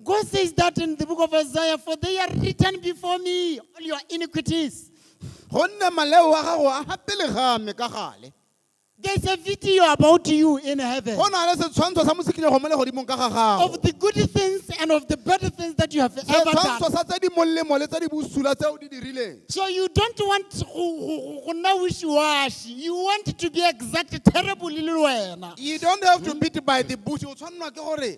God says that in the book of Isaiah, for they are written before me, all your iniquities. gonne maleo wa gago a ga pele ga me ka gale There's a video about you in heaven go na le setshwantsho sa mosikinyego mo legodimong ka ga gago of the good things and of the bad things that you have ever setshwantsho done. sa tse di molemo le tse di bosula tse o di dirileng So you don't want to go nna wishy-washy. You want to be exact terrible le wena. you don't have to beat by the bush o tshwanelwa ke gore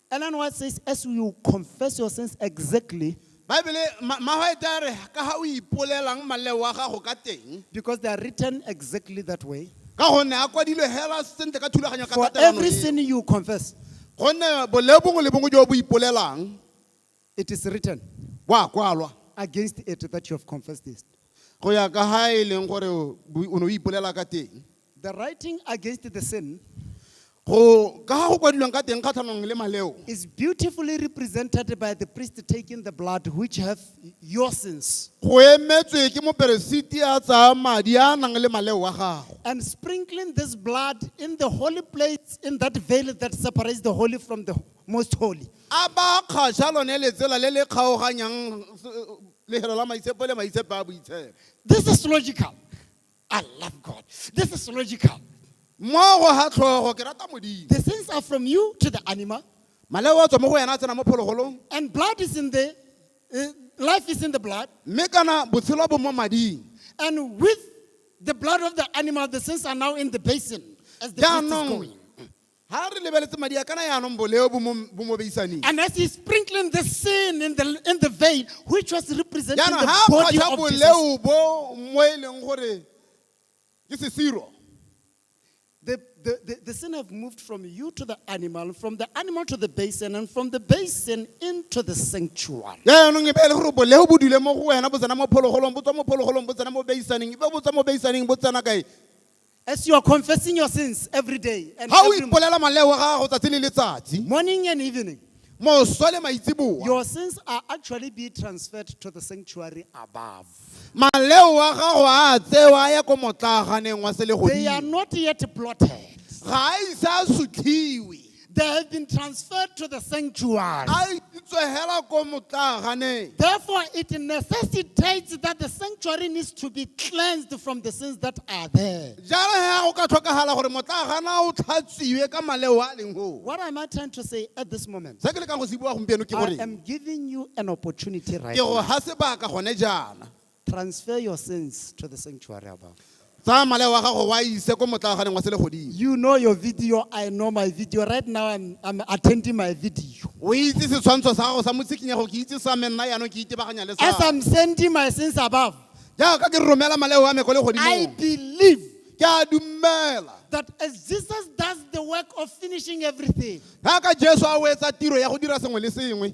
And then what says, as you confess your sins exactly, baebele ma- magwaete a re ka ga o ipolelang maleo a gago ka teng because they are written exactly that way. ka gonne a kwadilwe hela sentle ka thulaganyo ka For tatelano every eo. sin you confess, gonne boleo bongwe le bongwe jo bo ipolelang It is written, wa kwalwa, against it that you have confessed this. go ya ka ha e leng gore o bu- o ne o ipolela ka teng The writing against the sin go ka ha go kwadilweng ka teng kgatlhanong le maleo is beautifully represented by the priest taking the blood which have your sins go emetswe ke moperesiti a tsaya madi a a nang le maleo wa gago and sprinkling this blood in the holy place in that veil that separates the holy from the most holy. A ba kgaša lone letsela le le kgaoganyang lehelo la maitshepo le maitshepo a boitshepo? This is logical. I love God. This is logical. Mo go ga tlhogo ke rata Modimo. The things are from you to the animal, Maleo a tswa mo go yena a tsena mo phologolong, and blood is in the, uh, life is in the blood. mme kana botshelo bo mo mading. And with the blood of the animal, the sins are now in the basin as the priest is Jaanong going. Ha re lebeletse madi a kana yaanong boleo bo mo- bo mo beisaneng. And as he's sprinkling the sin in the, in the vein, which was representing Jaanong the ha a body kgwatlha of Jesus, boleo bo mo e leng gore ke sesiro. the, the, the, the sin have moved from you to the animal, from the animal to the basin, and from the basin into the sanctuary. Jaanong e be e le gore boleo bo dule mo go wena bo tsena mo phologolong, bo tswa mo phologolong, bo tsena mo beisaneng, e be bo tswa mo beisaneng bo tsena kae? As you are confessing your sins every day and ga o every mo- ipolela maleo a gago tsatsi le letsatsi morning and evening, moswa le maitseboa your sins are actually being transferred to the sanctuary above. maleo a gago a tsewa a ya ko motlaganeng wa They are selegodimo not yet blotted. ga a ise a sutlhiwe They have been transferred to the sanctuary. a isitswe hela ko motlaganeng Therefore, it necessitates that the sanctuary needs to be cleansed from the sins that are there. jalo he go ka tlhokagala gore motlagana o tlhatsiwe ka maleo a a leng goo What am I trying to say at this moment? se ke lekang go se bua gompieno ke I gore am giving you an opportunity right ke go now. ga sebaka gone jaana Transfer your sins to the sanctuary above. Tsaya maleo wa gago wa ise ko motlaaganeng wa selegodimo. You know your video, I know my video. Right now, I'm, I'm attending my video. O itse setshwantsho sa gago sa motsikinyego ke itse sa me nna yaanong ke itebaganya le As sa. I'm sending my sins above, Jaaka ke romela maleo wa me ko I legodimong. believe Ke a dumela. that as Jesus does the work of finishing everything, Jaaka Jesu a o etsa tiro ya go dira sengwe le sengwe.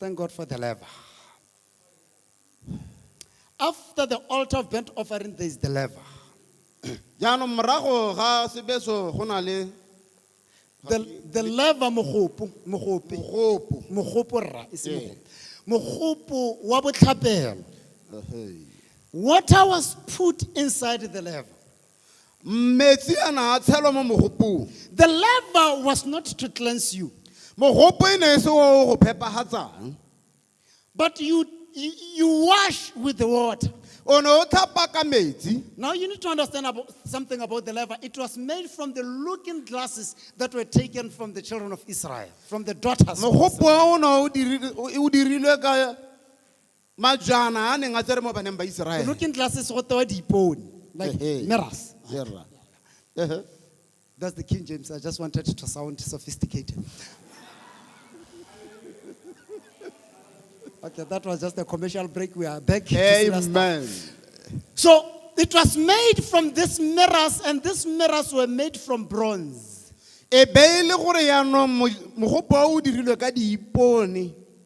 Thank God for the lever. After the altar of burnt offering, there is the lever. jaanong morago ga sebeso go na le The, the lever mogopo, mogopi, mogopo mogopo rra, e se Yeah. mogopo. Mogopo wa botlhapelo. Water was put inside the lever. metsi a na a tshelwa mo mogopong The laver was not to cleanse you, mogopo e ne e se o go phepagatsang but you, you, you wash with the water. o ne o tlhapa ka metsi Now you need to understand about something about the laver. It was made from the looking glasses that were taken from the children of Israel, from the daughters. of Israel. mogopo o ne o diri- o- o dirilwe ka Majana a a neng a tsere mo baneng ba Go Iseraele. looking glasses go tewa diipone like Ehe. mirrors Ee, rra. Ehe. that's the king james i just wanted to sound sophisticated okay that was just a commercial break we are back to Sina Star. Amen. so it was made from these mirrors and these mirrors were made from bronze E be e le gore yaanong mo- mogopolo o o dirilwe ka diipone.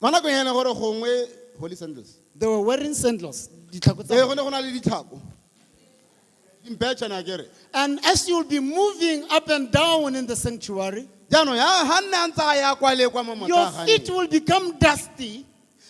Mo nakong ya ene gore gongwe holy sandals. They were wearing sandals. ditlhako tsa Ee, go bone. ne go na le ditlhako. Dimpetšhane a kere. And as you'll be moving up and down in the sanctuary, Jaanong ya ha nne a ntse a ya kwa le kwa mo your feet motlaganeng. will become dusty.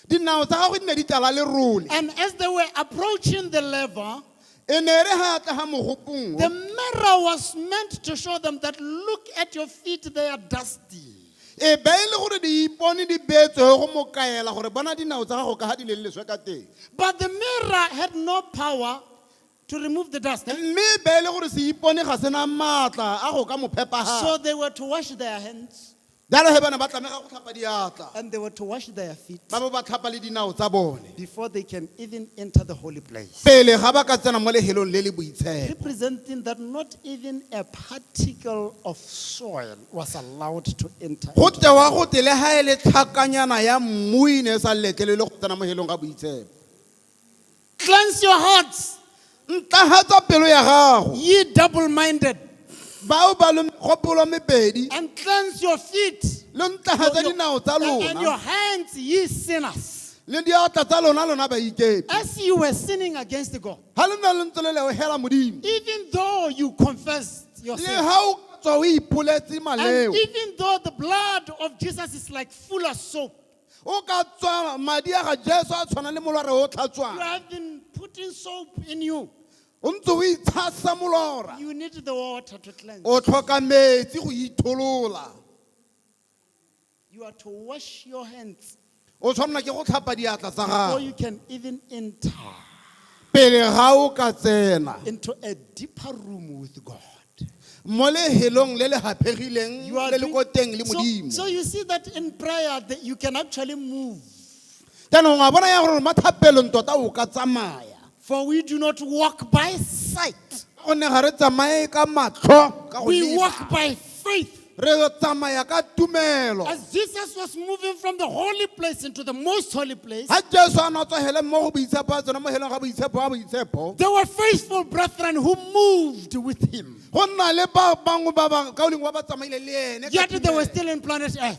Dinao tsa gagwe di ne di tlala lerole. And as they were approaching the lever, E ne re ha tla ga mogopong. the o. mirror was meant to show them that look at your feet, they are dusty. e be e le gore diipone di beetswe go mo kaela gore bona dinao tsa gago ka ga di leleswe ka teng But the mirror had no power to remove the dust. mme e be e le gore seipone ga sena maatla a go ka mo So phepaga they were to wash their hands jalo ge bana ba tlamega go tlhapa diatla and they were to wash their feet ba bo ba tlhapa le dinao tsa bone before they can even enter the holy place. pele ga ba ka tsena mo lehelong le le boitshepo Representing that not even a particle of soil was allowed to enter. go into tewa go te le ga e le tlhakanyana ya mmu e ne e sa letlelele go tsena mo helong ga boitshepo Cleanse your hearts, ntlagatsa pelo ya gago ye double minded, bao ba le megopolo mebedi and cleanse your feet lo ntlagatsa dinao tsa and and your lona hands, ye sinners. le diatla tsa lona lona baikepi As you were sinning against God. ha le ne le ntse le lebohela modimo even though you confessed le yourself, ha o ka tswa o ipoletse and maleo even though the blood of Jesus is like full of soap, o ka tswa madi a ga jesu a tshwana le molora o you tlhatswang have been putting soap in you. o ntse o itshasa molora You need the water to cleanse. o tlhoka metsi go itholola You are to wash your hands o tshwanela ke go tlhapa diatla tsa before gago you can even enter pele ga o ka tsena into a deeper room with God. mo lehelong le le gaphegileng You are le le doing- ko teng le so, modimo so you see that in prayer that you can actually move. jaanong a bona ya gore mathapelong tota o ka tsamaya For we do not walk by sight, gonne ga re tsamaye ka matlho ka go we leba. walk by faith. re tsamaya ka tumelo As Jesus was moving from the holy place into the most holy place, ga jesu a ne a tswagele mo go boitshepo a tsena mo heleng ga boitshepo wa boitshepo there were faithful brethren who moved with him. go nna le ba bangwe ba ba kaoleng wa ba tsamaile le ene ka Yet they were tumelo. still in planet Earth.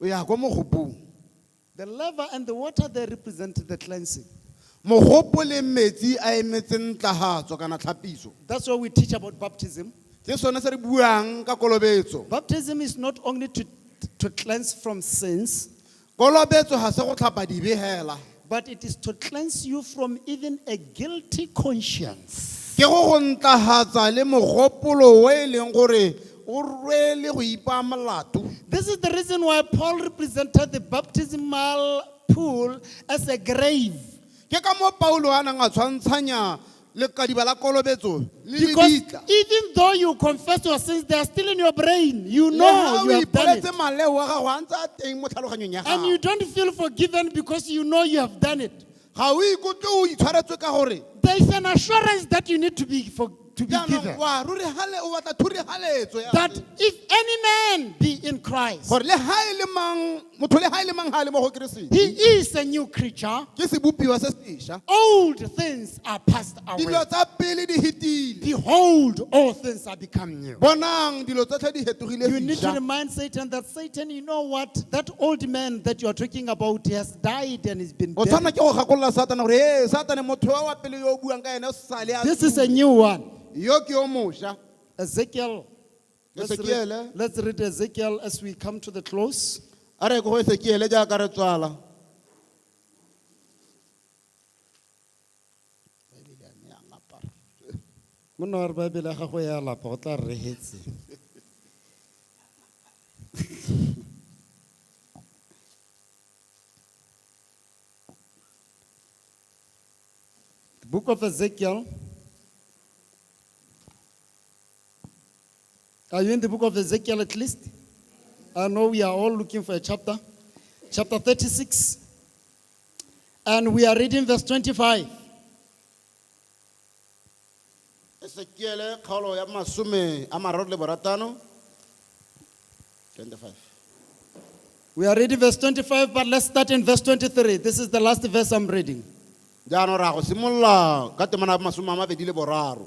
O ya kwa mogopong. The lava and the water there represent the cleansing. Mogopo le metsi a emetse ntlahatso kana tlhapiso. That's why we teach about baptism. Ke sone se re buang ka kolobetso. Baptism is not only to, to cleanse from sins, Kolobetso ga se go tlhapa dibe hela. But it is to cleanse you from even a guilty conscience. ke go go ntlahatsa le mogopolo o e leng gore o rwele go ipaa molato This is the reason why Paul represented the baptismal pool as a grave. ke ka moo paulo a nang a tshwantshanya Lekadiba la kolobetso le Because lebitla. even though you confess your sins, they are still in your brain. You Le know ha you o have done it. ipoletse maleo wa gago a ntse a teng mo tlhaloganyong ya And you gago. don't feel forgiven because you know you have done it. Ga o ikutlwe o itshwaretswe ka gore There is an assurance that you need to be, for, to be jaanong given. wa ruri gale o batla thurigaletso ya That if any man be in Christ, gore le ga e le mang motho le ga e le mang ga a le mo go keresete he is a new creature. ke sebopiwa se sesha Old things are passed dilo away. tsa pele di hetile Behold, all things are become new. bonang dilo tsotlhe di hetogile You need to sesha remind Satan that Satan, you know what? That old man that you're talking about he has died and he's been o dead. tshwanela ke go gakolola satana gore ee satane motho wa wa pele yo o buang ka ene o sale a This is a tswile. new one. yo ke yo mosha Ezekiel Let's read, Esekiele. let's read Ezekiel as we come to the close. a re ko go esekiele jaaka re tswala Monna wa re Baebele ya gago ya lapa o tla re rehetse. The book of Ezekiel Are you in the book of Ezekiel at least? I know we are all looking for a chapter. Chapter 36. And we are reading verse 25. esekiele kgaolo ya masome a mararo le boratano 25 We are reading verse 25, but let's start in verse 23. This is the last verse I'm reading. jaanong ra go simolola ka temana ya masome a mabedi le boraro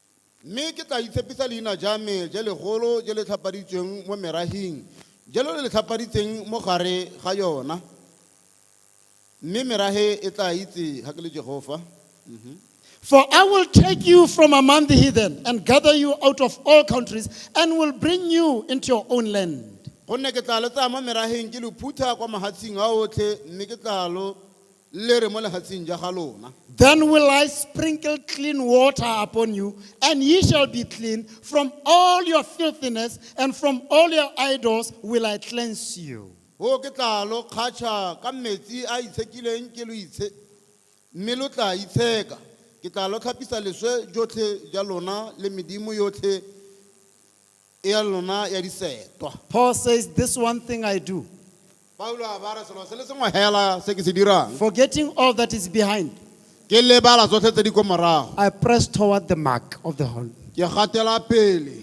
Mme ke tla itshepisa leina ja me je legolo je le tlhapaditsweng mo merahing, je lo le le tlhapaditseng mo gare ga yona, mme merahe e tla itse ga ke le Jehofa. For I will take you from among the heathen and gather you out of all countries and will bring you into your own land. Gonne ke tla lo tsaya mo meraheng ke lo phutha kwa mahatshing a otlhe, mme ke tla lo Lle re mo lefatsheng ja ga lona. Then will I sprinkle clean water upon you, and ye shall be clean, from all your filthiness and from all your idols will I cleanse you. Hoo ke tla lo kgatšha ka metsi a itshekileng ke lo itshe, mme lo tla itsheka. Ke tla lo tlhapisa leswe jotlhe ja lona le medimo yotlhe. e ya lona ya disetwa. Paul says, This one thing I do, Paulo a ba re selo se le sengwe hela se ke se dirang forgetting all that is behind, ke lebala tsotlhe tse di ko morago I press toward the mark of the whole. ke gatela pele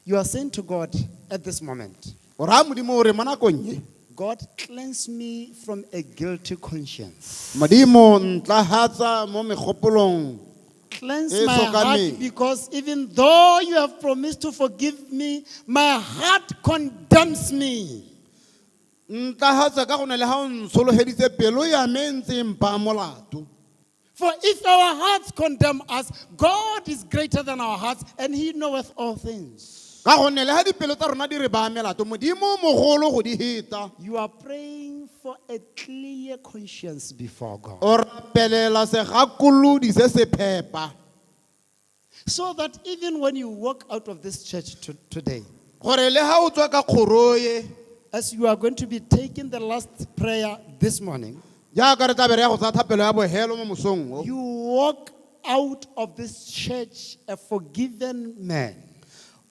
You are saying to God at this moment, o raya modimo o re mo nakong e God, cleanse me from a guilty conscience. modimo ntlahatsa mo megopolong Cleanse E my heart tlhokameng. because even though you have promised to forgive me, my heart condemns me. ntlagatsa ka gone le ga o ntshologeditse pelo ya me e ntse e mpaa molato For if our hearts condemn us, God is greater than our hearts and he knoweth all things. Ka gonne leha dipelo tsa rona di re baya melato, Modimo o mogolo go di heta. You are praying for a clear conscience before God. O rapelela segakolodi se se phepa. So that even when you walk out of this church to, today, Gore le ha o tswa ka kgoro e, as you are going to be taking the last prayer this morning, jaaka re tla be re ya go tsaya thapelo ya bohelo mo mosong o, you walk out of this church a forgiven man.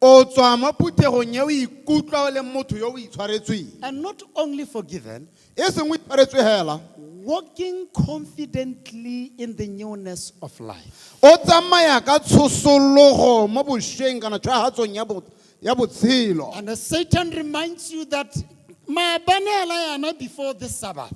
O tswa mo phuthegong e o ikutlwa o le motho yo o itshwaretsweng. And not only forgiven, E seng o itshwaretswe hela, walking confidently in the newness of life. o tsamaya ka tshosologo mo bošweng kana tshwagatsong ya bo- ya botshelo. And as Satan reminds you that maabane a la yana before this Sabbath,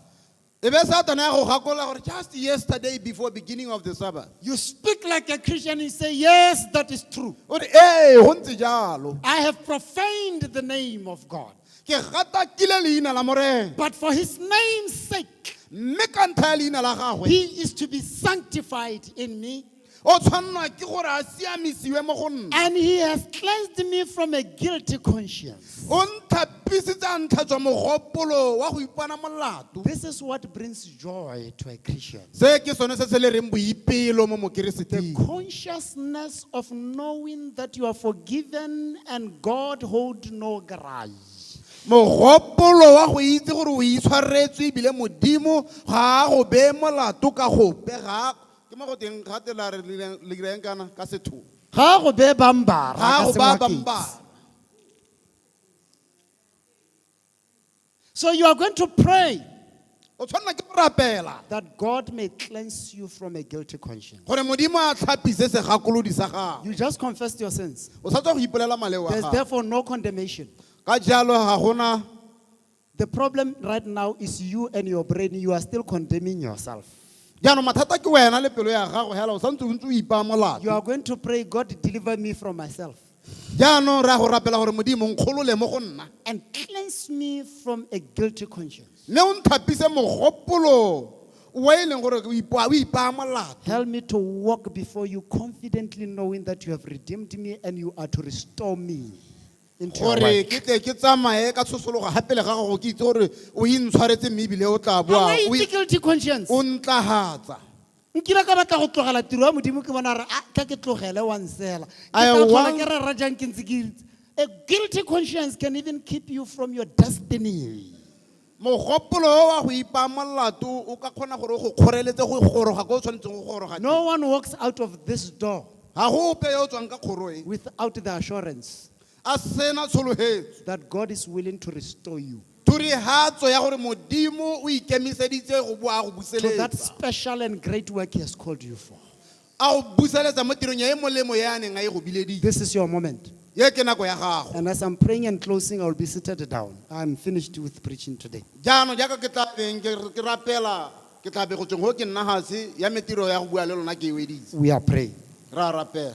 E be Satana ya go gakolola gore just yesterday before beginning of the Sabbath. You speak like a Christian and say, Yes, that is true. O re ee go ntse jalo. I have profaned the name of God. Ke gatakile leina la Morena. But for his name's sake, Mme ka ntlha ya leina la gagwe he is to be sanctified in me. O tshwanelwa ke gore a siamisiwe mo go nna. And he has cleansed me from a guilty conscience. O ntlhapisitse a ntlhatswa mogopolo wa go ipona molato. This is what brings joy to a Christian. Se ke sone se se le reng boipelo mo The mokereseting. consciousness of knowing that you are forgiven and God hold no grudge. Mogopolo wa go itse gore o itshwaretswe ebile Modimo ga a go beye molato ka gope ga a Ke mo go teng ga te la re le ira eng kana ka setho. Ga go be ba mbara ka Ga go ba ba Sengwakeng. mbara. So you are going to pray O tshwanela ke go rapela that God may cleanse you from a guilty conscience. gore Modimo a tlhapise segakolodi sa gago. You just confessed your sins. O sa tswa go ipolela maleo a There's gago. therefore no condemnation Ka jalo ga gona The problem right now is you and your brain, you are still condemning yourself. jaanong mathata ke wena le pelo ya gago hela o santse o ntse o ipaya You molato are going to pray, God, deliver me from myself jaanong re ya go rapela gore modimo nkgolole mo go nna and cleanse me from a guilty conscience. mme o nthapise mogopolo o e leng gore o ipa- o ipaya molato Help me to walk before you confidently knowing that you have redeemed me and you are to restore me. gore ke tle ke tsamaye ka tshosologo ga pele ga gago ke itse gore o intshwaretse mme ebile o tla boa Am I o in e- guilty conscience? o ntlagatsa nkile ka batla go tlogela tiro ya modimo ke bona re a ka ke tlogele wa nsela Ke I tla tlhola want- ke re ra jang ke ntse ke itse. a guilty conscience can even keep you from your destiny Mogopolo o wa go ipaya molato o ka kgona gore o go kgoreletse go goroga ko o tshwanetseng go goroga teng. No one walks out of this door Ga go ope yo o tswang ka kgoro e without the assurance a sena tshologetso, that God is willing to restore you thurihatso ya gore Modimo o ikemiseditse go bo a go to that buseletsa special and great work He has called you for. A go buseletsa mo tirong ya e molemo e a neng a e go bileditse. This is your moment. E ke nako ya gago. And as I'm praying and closing, I will be seated down. I'm finished with preaching today. Jaanong jaaka ke tla beng ke ke rapela, ke tla be go tsweng go ke nna gase, ya me tiro ya go bua le lona ke e weditse. We are praying. Re a rapela.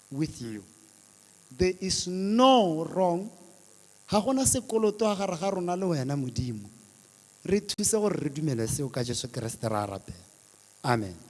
with hmm. you. There is no wrong. Ga gona sekoloto ga gare ga rona le wena Modimo. Re thuse gore re dumele seo ka Jesu Kriste ra rapela. Amen.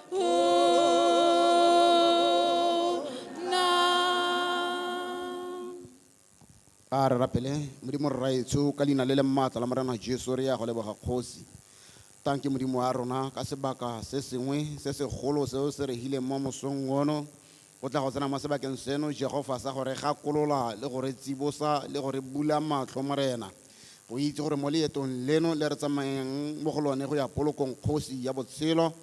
a re rapele modimo rraetsho ka leina le le maatla la morena jesu re ya go leboga kgosi tanke modimo wa rona ka sebaka se sengwe se segolo seo se regileng mo mosong ono O tla go tsena mo sebakeng seno, Jehofa, sa go re gakolola le go re tsibosa le go re bula matlho, Morena, go itse gore mo leetong leno le re tsamayang mo go lone go ya polokong kgosi ya botshelo,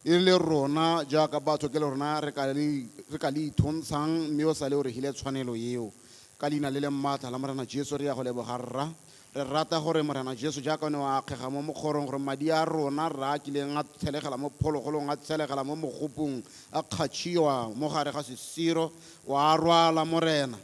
e le rona jaaka batho ke le rona re ka le, re ka le ithontshang, mme o sale o re hile tshwanelo eo. Ka Leina le leng maatla la Morena Jesu re ya go leboga, Rra. Re rata gore Morena Jesu, jaaka o ne wa akgega mo mokgorong, gore madi a rona, rra, a kileng a tshelegela mo phologolong, a tshelegela mo mogopung, a kgatšhiwa mo gare ga sesiro, wa a rwala, Morena.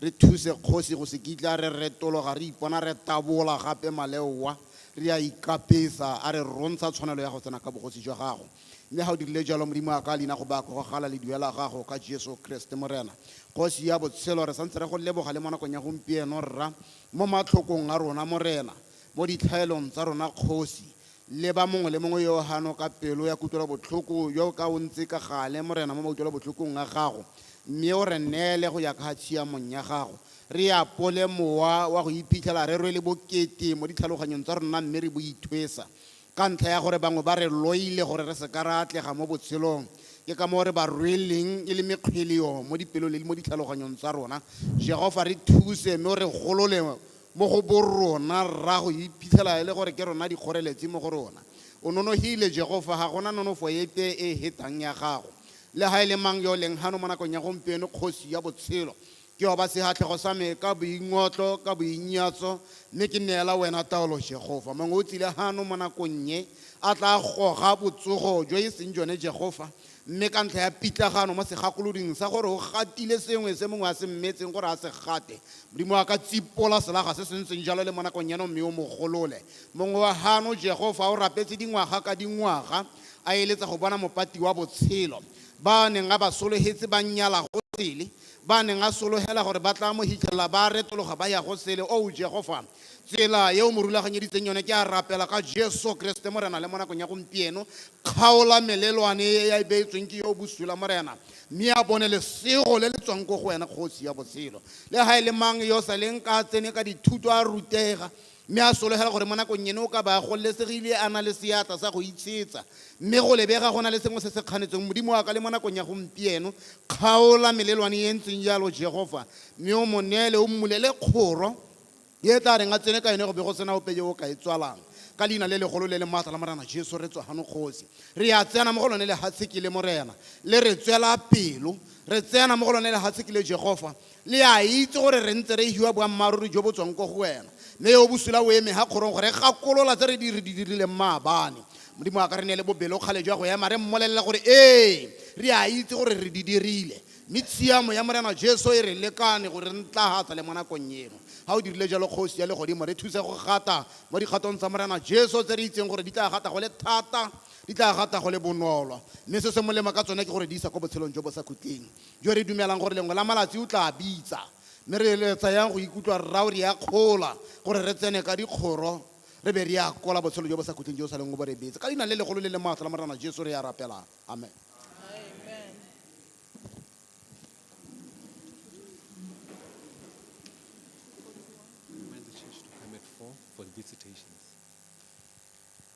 Re thuse, Kgosi, go se kitla re retologa re ipona re tabola gape maleoa, re a ikapesa, a re rontsha tshwanelo ya go tsena ka Bogosi jwa Gago. Mme ga o dirile jalo, Modimo wa ka, leina go ba go gala ledua la Gago, ka Jesu Kriste, Morena. Kgosi ya Botshelo, re santse re Go leboga le mo nakong ya gompieno, rra, Mo matlhokong a rona, Morena, mo ditlhaelong tsa rona, Kgosi, leba mongwe le mongwe yo hano ka pelo ya kutlwelobotlhoko, yo o ka o ntse ka gale, Morena, mo mautlwelobotlhokong a gago, mme o re neele go ya ka tshiamong ya gago. Re apole mowa wa go iphitlhela re rwele bokete mo ditlhaloganyong tsa rona mme re bo ithwesa. Ka ntlha ya gore bangwe ba re loile gore re se ka ra atlega mo botshelong, ke ka moo re ba rweleng e le mekgweleo mo dipelong le mo ditlhaloganyong tsa rona. Jehofa, re thuse mme o re golole mo go borona rra go iphitlhela e le gore ke rona dikgoreletsi mo go rona. O nonogile, Jehofa, ga go na nonofo epe e e hetang ya gago. Le ga e le mang yo o leng gano mo nakong ya gompieno, Kgosi ya Botshelo, Ke oba sehatlego sa me ka boingotlo, ka boinyatso, mme ke neela Wena taolo, Jehofa. Mongwe o tsile hano mo nakong ye, a tlaa goga botsogo jo e seng jone, Jehofa, mme ka ntlha ya pitlagano mo segakoloding sa gore o gatile sengwe se mongwe a se mmetseng gore a se gate, Modimo wa ka, tsipola selaga se se ntseng jalo le mo nakong eno mme o mo golole. Mongwe wa hano, Jehofa, o rapetse dingwaga ka dingwaga, a eletsa go bona Mopati wa Botshelo. Ba a neng a ba sologetse ba nyala go sele, ba a neng a sologela gore ba tla mo hitlhelela ba retologa ba ya go sele. Oo, Jehofa, tsela e o mo rulaganyeditseng yone, ke a rapela ka Jesu Keresete, Morena, le mo nakong ya gompieno, kgaola melelwane e e beetsweng ke yo o bosula, Morena, mme a bone lesego le le tswang ko go Wena, Kgosi ya Botshelo. Le ga e le mang yo o sa leng ka a tsene ka dithuto a rutega, Mme a sologela gore mo nakong eno o ka ba a gololesegile, a na le seatla sa go itshetsa. Mme go lebega go na le sengwe se se kganetsweng. Modimo wa ka, le mo nakong ya gompieno, kgaola melelwane e e ntseng jalo, Jehofa, mme o mo neele, o mmulele kgoro e e tla reng a tsene ka yone go be go se na ope yo o ka e tswalang. Ka Leina le legolo le le maatla la Morena Jesu, re tswa gano, Kgosi. Re a tsena mo go lone lehatsheki le, Morena. Le re tswela pelo. Re tsena mo go lone lehatsheki le, Jehofa. Le a itse gore re ntse re hiwa boammaaruri jo bo tswang ko go wena, mme yo o bosula o eme ha kgorong go re gakolola tse re di dirileng maabane. Modimo a ka re neele bobelokgale jwa go ema re mmolelele gore, Ee, re a itse gore re di dirile, mme tshiamo ya Morena Jesu e re lekane go re ntlahatsa le mo nakong eno. Ha o dirile jalo, Kgosi ya Legodimo, re thuse go gata mo dikgatong tsa Morena Jesu, tse re itseng gore di tla gata go le thata, di tla gata go le bonolo, mme se se molemo ka tsone ke go re di isa ko botshelong jo bo sa khutleng. jo re dumelang gore lengwe la malatsi o tlaa bitsa, mme re eletsa yang go ikutlwa rraaw re akgola gore re tsene ka dikgoro re be re akola botshelo jo bo sa khutleng jo o saleng o bo rebetse. Ka Leina le legolo le le maatla la Morena Jesu re a rapela. Amen. Remind the church to come at four for the visitations.